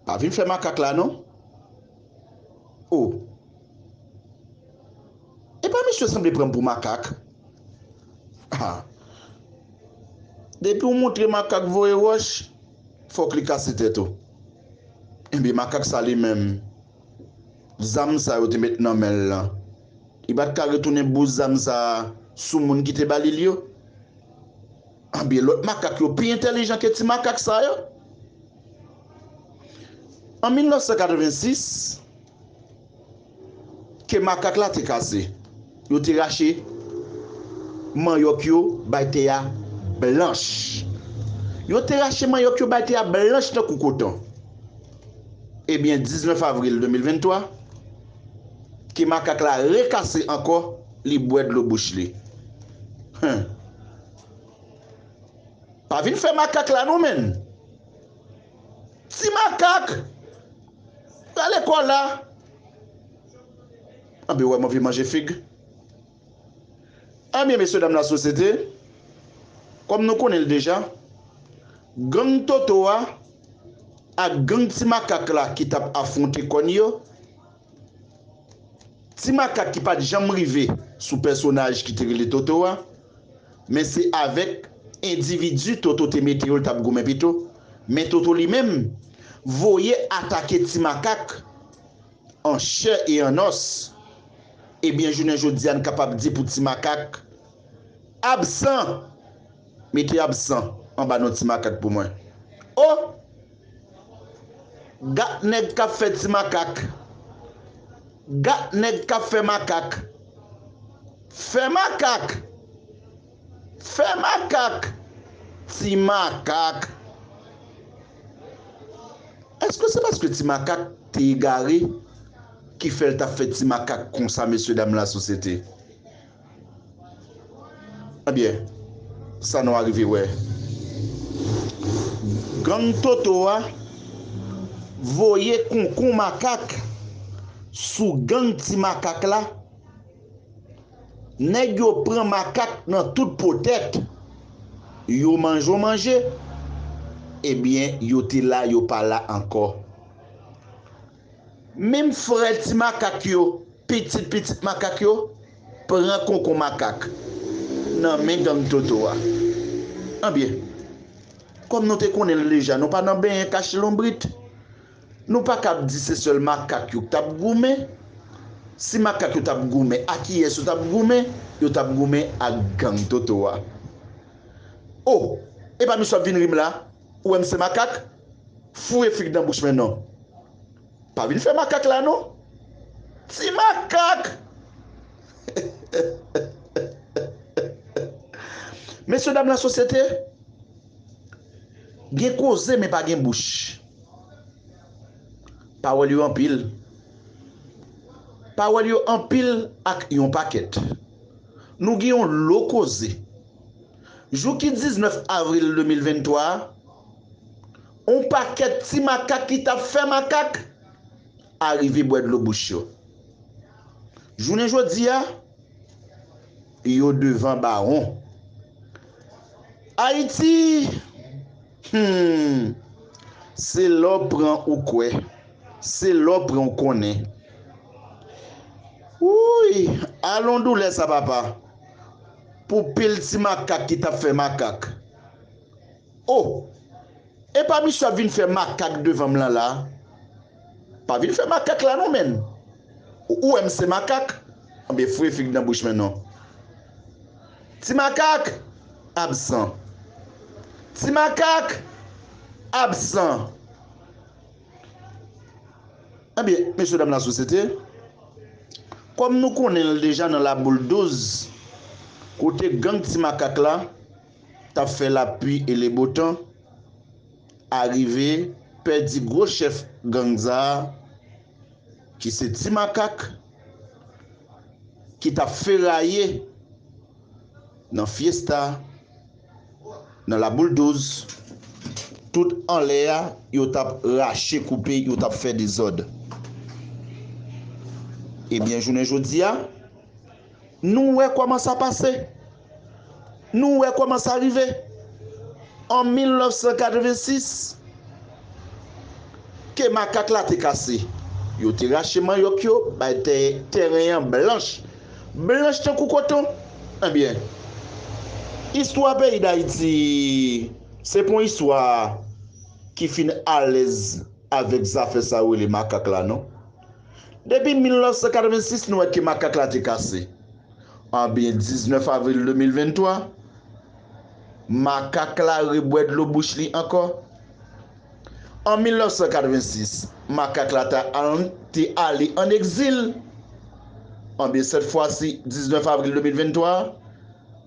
Pa vin fè makak la non. O. Epa misye sanble pranm pou makak. Ha. Depiw moutre makak voye wòch, fòk li kase tèt ou. Enbyen makak sa li menm, zam sa yo te met nan menl lan, li pat ka retounen bous zam sa sou moun ki te balil yo? Anben lòt makak yo pi entèlijan ke ti makak sa yo. An 1986, ke makak la te kase, yo te rache manyòk yo bay tè a blanch. Yo te rache manyòk yo bay tè a blanch tankou koton. Ebyen 19 avril 2023, ke makak la rekase ankò, li bwè dlo bouch li. Huh! Pa vin fè makak la non menn. Ti makak Rale kola Anbyen wè m anvi manje fig Anbyen mesye dam lasosyete Kòm nou konnen l deja Gang Toto a Ak gang ti makak la ki t ap afwonte kòn yo Ti makak ki pa t janm rive sou pèsonaj ki te rele Toto a, men se avèk endividi Toto te mete yo l t ap goumen pito, men Toto li menm voye atake ti makak an chè e an nòs, ebyen jounen jodi a n kapab di pou ti makak absan! Mete absan anba non ti makak pou mwen. O! Gat nèg kap fè ti makak. Gat nèg kap fè makak. Fè makak! Fè makak! Ti makak! Eske se paske ti makak te egare ki fè l tap fè ti makak konsa mesye dam lasosyete? Ebyen sa nou arive wè. Gang Toto a voye konkou makak sou gang ti makak la, nèg yo pran makak nan tout po tèt, yo manjon manje, ebyen yo te la yo pa la ankò. Menm frè ti makak yo, pitit pitit makak yo, pran konkon makak nan men gang Toto a. Anbyen, kòm nou te konnen l deja, nou pa nan benyen kache lonbrit. Nou pa kab di se sèl makak yo k t ap goumen. Si makak yo t ap goumen, a kiyès yo t ap goumen? Yo t ap goumen ak gang Toto a. O! Epa misye ap vin ri m la? Ou wèm se makak? Foure fig nan bouch mwen non. Pa vin fè makak la non. Ti makak! Mesye dam lasosyete, gen koze men pa gen bouch. Pawòl yo anpil. Pawòl yo anpil ak yon pakèt. Nou gen yon lo koze. Jou ki 19 avril 2023 a, on pakèt ti makak ki tap fè makak arive bwè dlo bouch yo. Jounen jodi a, yo devan bawon. Ayiti, humm, se lè w pran ou kwè, se lè w pran ou konnen. Wouuyy, alon doulè sa papa! pou pil ti makak ki tap fè makak oh epa misye ap vin fè makak devanm lan la pa vin fè makak la non menn ou wèm se makak anbyen foure fig nan bouch mwen non ti makak absan ti makak absan. Ebyen, mesye dam lasosyete, kòm nou konnen l deja nan Laboul 12, kote gang Ti Makak la t ap fè lapui e lebotan, arive pèdi gwo chèf gang sa a ki se Ti Makak, ki t ap feraye nan fyesta Nan la boule 12 tout anlè a yo tap rache koupe yo tap fè dezòd ebyen jounen jodia nou wè kòman sa pase nou wè kòman sa rive an 1986 ke makak la te kase yo te rache manyòk yo bay tèren an blanch Blanch tankou koton? Ebyen, istwa peyi Dayiti se pon istwa ki fin alèz avèk zafè sa yo rele makak la non. Depi 1986 nou wè ke makak la te kase. Anbyen 19 avril 2023, makak la rebwè dlo bouch li ankò. An 1986, makak la ta aln te ale an egzil. Anben sèt fwasi 19 avril 2023,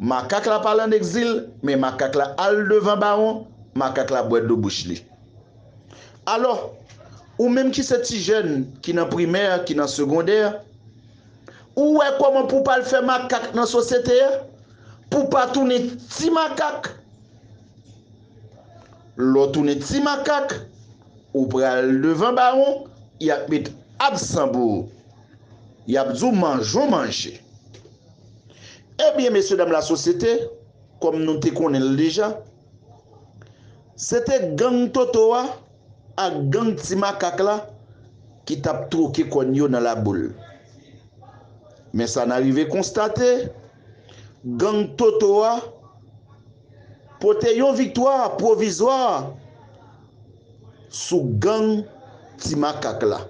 makak la pa ale an egzil, men makak la al devan bawon, makak la bwè dlo bouch li. Alò, ou menm ki se ti jèn, ki nan primè, ki nan segondè, ou wè kòman pou w pa al fè makak nan sosyete a, pou w pa tounen ti makak? Lè w tounen ti makak, ou pral devan bawon, y ap met absan pou ou. Y ap di w manjon manje. Ebyen mesyedam lasosyete, kòm nou te konnen l deja, se te gang Toto a ak gang ti makak la ki t ap twoke kòn yo nan laboul. Men sa n arive konstate. Gang Toto a pote yon viktwa pwovizwa sou gang Ti Makak la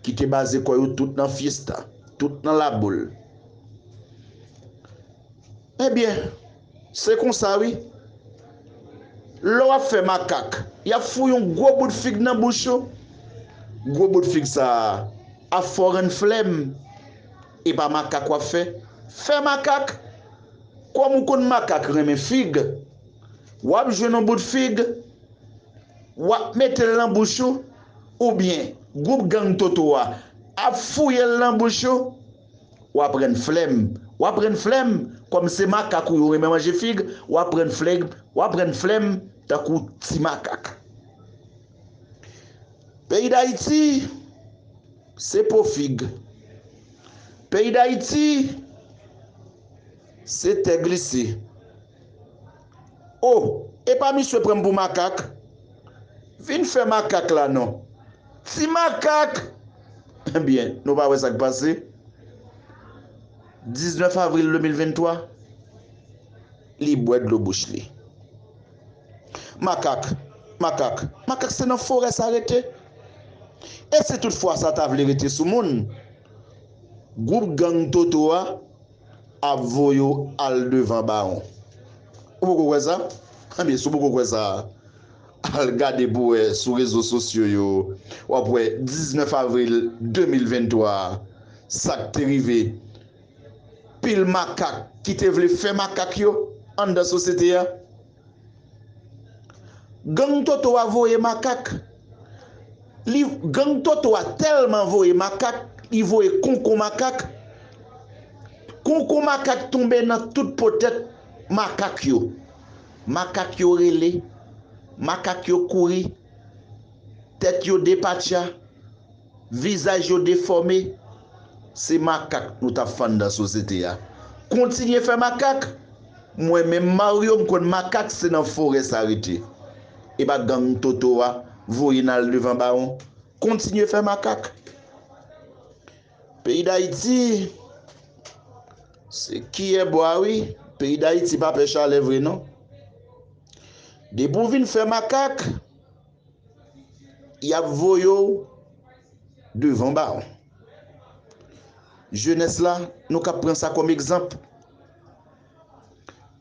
ki te baze kò yo tout nan Fiesta, tout nan Laboul. Ebyen, se konsa wi. Lè w ap fè makak, y ap fou yon gwo bout fig nan bouch ou. Gwo bout fig sa a fò rann flèm. Epa makak wap fè? Fè makak! Kòm ou konn makak renmen fig, wap jwenn yon bout fig, wap mete l nan bouch ou, oubyen gwoup gang Toto a ap fouye l nan bouch ou, wap rann flèm, wap rann flèm, kòm se makak ou yo renmen manje fig, wap rann fleg, wap rann flèm tankou ti makak. Peyi Dayiti. Se po fig. Peyi dayiti se tè glise. Oh epa misye pranm pou makak? Vin fè makak la non. Ti makak! Ebyen nou pa wè sak pase? 19 avril 2023 li bwè dlo bouch li. Makak, makak, makak se nan forè sa rete? E si tout fwa sa ta vle rete sou moun? Gwoup gang Toto a ap voye w al devan bawon. Ou poko kwè sa? Ebyen si w poko kwè sa, al gade pou w wè sou rezo sosyo yo, w ap wè 19 avril 2023 a, sa k te rive. pil makak ki te vle fè makak yo anndan sosyete a. Gang Toto a voye makak, li gang Toto a tèlman voye makak, li voye konkon makak, konkon makak tonbe nan tout po tèt makak yo. Makak yo rele, makak yo kouri, tèt yo depatcha. Vizaj yo defòme, se makak nou tap fann dan sosyete a. Kontinye fè makak, mwen menm Mario m konn makak se nan forè sa rete. Epa gang Toto a voye n al devan bawon. Kontinye fè makak. Peyi Dayiti se kiyè bwa wi, peyi Dayiti pa pè chalè vre non. Depi w vin fè makak. yap voye w devan baron. Jenès la nou kap pran sa kòm egzanp.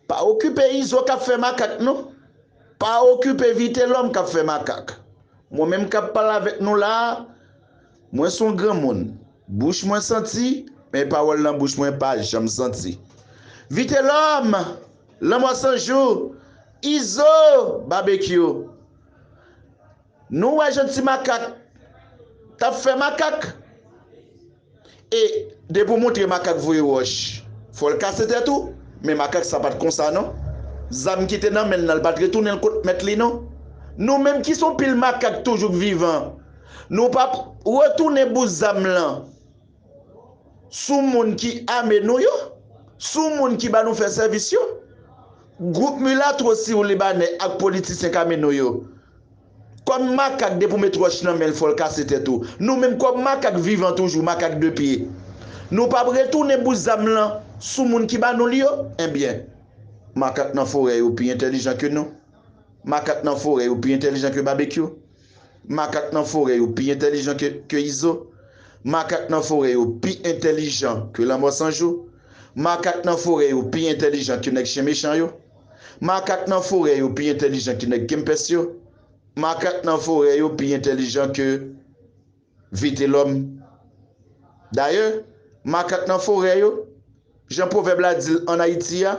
Pa okipe izo kap fè makak non. Pa okipe vitelòm kap fè makak. Mwen menm kap pale avèk nou la a, mwen son granmoun, bouch mwen santi, men pawòl nan bouch mwen pa janm santi. Vitelòm! Lanmò sanjou! Izo! Babekyou! Nou wè jan ti makak tap fè makak e depi ou montre makak voye wòch fòl kase tèt ou men makak sa pat konsa non zam kite nan menl nan li pat retounen l kot mèt li non nou menm ki son pil makak toujou k vivan nou pa retounen bout zam lan sou moun ki ame nou yo, sou moun ki ba nou fè sèvis yo. Gwoup milatwo siw libanè ak politisyen Camino yo. Kòm makak depi w met wòch nan men l fò l kase tèt ou. Nou menm kòm makak vivan toujou, makak 2 pye. Nou pap retounen bout zam lan sou moun ki ba nou li yo? Enbyen. Makak nan forè yo pi entèlijan ke nou. Makak nan forè yo pi entèlijan ke Babekyou. Makak nan forè yo pi entèlijan ke Izo. Makak nan forè yo pi entèlijan ke Lanmò San Jou. Makak nan forè yo pi entèlijan ke Nèg Chen Mechan yo. Makak nan forè yo pi entèlijan ke Nèg Kempès yo. Makak nan forè yo pi entèlijan ke. Vitelòm Dayè, makak nan forè yo, jan pwovèb la di l ann Ayiti a,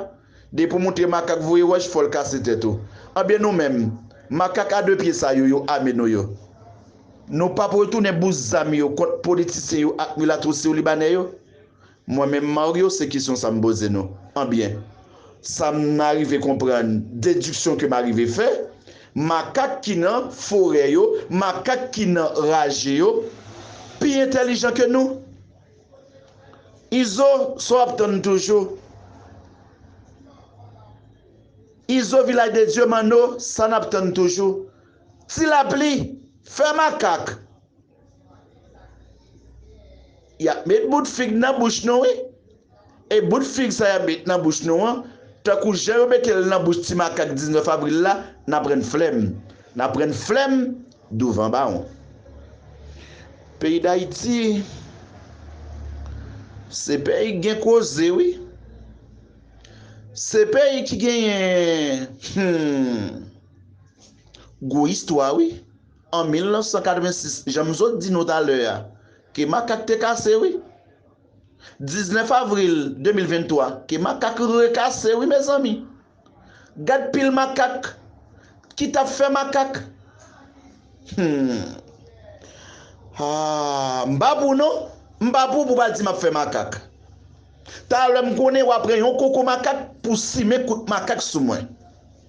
depi w montre makak voye wòch fò l kase tèt ou. Anben nou menm, makak a de pye sa yo, yo ame nou yo. Nou p ap retounen bout zam yo kont politisyen yo ak milatwosyo libanè yo? Mwen menm Mario se kesyon sa m poze nou. Anbyen, sa m arive konprann, dediksyon ke m arive fè, makak ki nan forè yo, makak ki nan raje yo, pi entèlijan ke nou. Izo, sa w ap tann toujou? Izo Vilaj de Dye, Manno, sa n ap tann toujou? Ti Lapli, fè makak! Yap met bout fig nan bouch nou wi. E bout fig sa yap met nan bouch nou an, tankou jan yo mete l nan bouch ti makak 19 avril la, nap rann flèm. Nap rann flèm douvan bawon. Peyi Dayiti se peyi k gen koze wi. Se peyi ki genyen humm gwo istwa wi. An 1986, jan m sot di nou talè a, ke makak te kase wi. 19 avril 2023, ke makak rekase wi mezanmi. Gad pil makak ki t ap fè makak. Humm. Haa, m pa pou w non. M pa pou w pou w pa di m ap fè makak. Talè m konnen w a pran yon koko makak pou w simen kout makak sou mwen.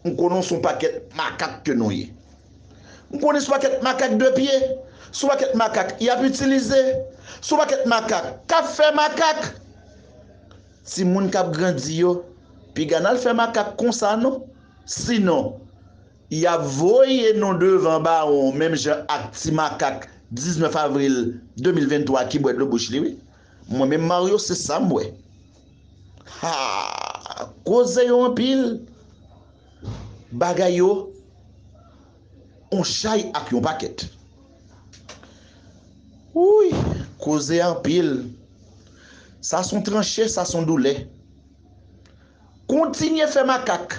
M konnen w se yon pakèt makak ke nou ye. M konnen se yon pakèt makak de pye, se yon pakèt makak y ap itilize, se yon pakèt makak k ap fè makak. Timoun k ap grandi yo, piga n al fè makak konsa non. Sinon, y ap voye nou devan bawon menm jan ak ti makak 19 avril 2023 ki bwè dlo bouch li wi. Mwen menm Mario se sa m wè. Haa koze yo anpil bagay yo on chay ak yon pakèt Wouyy koze a anpil sa son tranche sa son doulè kontinye fè makak.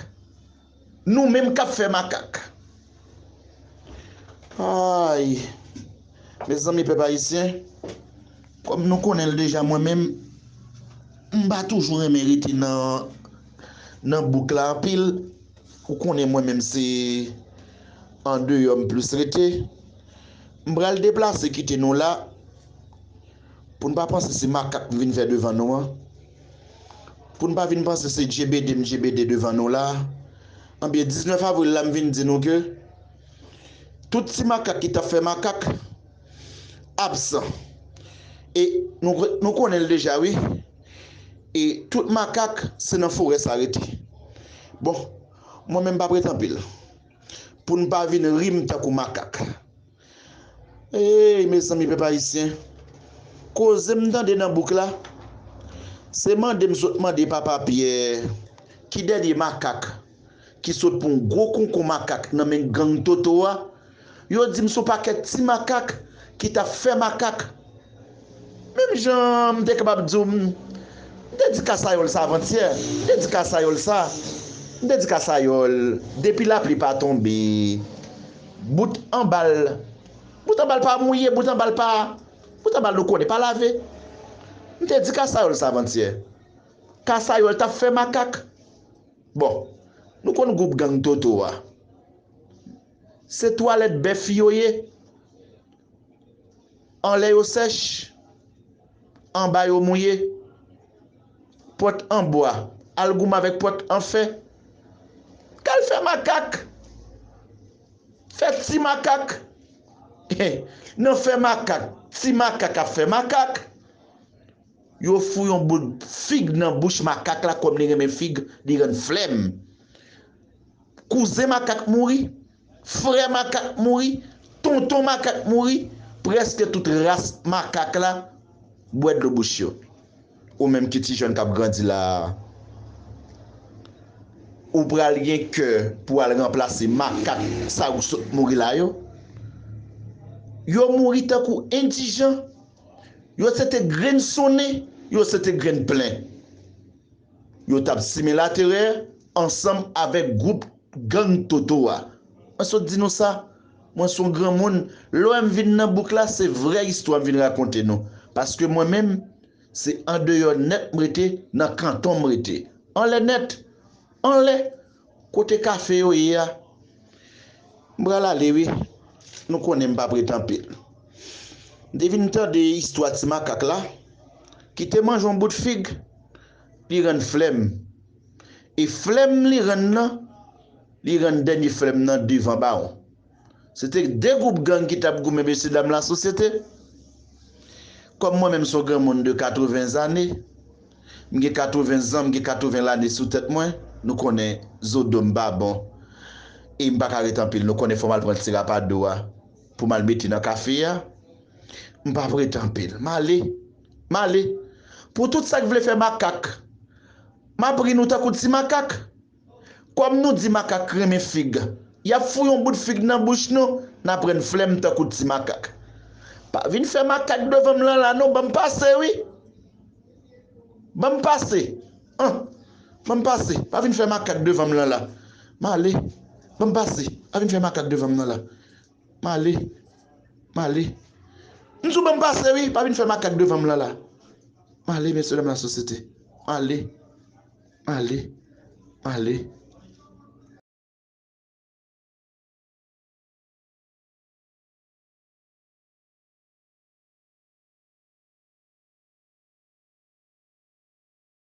Nou menm kap fè makak. Ayy Mezanmi pèp ayisyen Kòm nou konnenl deja mwen menm m pa toujou renmen rete nan bouk la anpil ou konnen mwen menm se andeyò m plis rete m pral deplase kite nou la. Pou n pa panse se makak m vin fè devan nou an. Pou n pa vin panse se djebede m djebede devan nou la a. Anben 19 avril la m vin di nou ke tout ti makak ki t ap fè makak absan. E nou konnen l deja wi. E tout makak se nan forè sa rete. Bon, mwen menm m pa p ret anpil. Pou n pa vin ri m tankou makak. Eyy mezanmi pèp ayisyen koze m tande nan bouk la se mande m sot mande papa pyè ki dènye makak ki sot pran yon gwo konkon makak nan men gang toto a yo di m son pakèt ti makak ki tap fè makak Menm jan m te kapab di w m te di kasayòl sa avantyè, m te di kasayòl sa, m te di kasayòl depi lapli pa tonbe bout anba l bout anba l pa mouye, bout anba l pa bout anba l nou konnen pa lave m te di kasayòl sa avantyè kasayòl t ap fè makak bon nou konn gwoup gang Toto a se twalèt bèf yo ye Anlè yo sèch, anba yo mouye. Pòt an bwa al goumen avèk pòt an fè. Kal fè makak. Fè ti makak. Nan fè makak, ti makak ap fè makak. Yo fou yon boul fig nan bouch makak la kòm li renmen fig, li rann flèm. Kouzen makak mouri. Frè makak mouri, tonton makak mouri, prèske tout ras makak la bwè dlo bouch yo. Ou menm ki ti jèn k ap grandi la a, ou pral gen kè pou w al ranplase makak sa yo k sot mouri la yo? Yo mouri tankou endijan, yo se te grenn sonnen, yo se te grenn plen. Yo t ap simen laterè ansanm avèk gwoup Gang Toto a. Mwen sot di nou sa, mwen son granmoun, lèm vin nan bouk la se vrè istwa m vin rakonte nou, paske mwen menm se andeyò nèt m rete, nan kanton m rete. Anlè nèt! Anlè! Kote kafe yo ye a? M pral ale wi, nou konnen m pa p ret anpil. M te vin tande istwa ti makak la, ki te manje yon bout fig, li rann flè m. E flèm li rann nan, li rann dènye flèm nan devan bawon. Se te 2 gwoup gang ki t ap goumen mesye dam lasosyete. Kòm mwen menm s on granmoun de 80 zane, m gen 80 zan, m gen 80 lane sou tèt mwen, nou konnen zo do m pa bon e m pa ka ret anpil, nou konnen fò m al pran ti rapado a pou m al mete nan kafe a. M p ap ret anpil, m ale, m ale pou tout sa k vle fè makak. M ap ri nou tankou ti makak. Kòm nou di makak renmen fig, y ap fouye yon bout fig nan bouch nou, n ap rann flèm tankou ti makak. Pa vin fè makak devan m lan la non, ban m pase wi! Ban m pase! An! Ban m pase! Pa vin fè makak devan m lan la. M ale! Ban m pase! Pa vin fè makak devan m lan la. Male Male M di w ban m pase wi pa vin fè makak devan m lan la Male mesye dam lasosyete Male Male Male.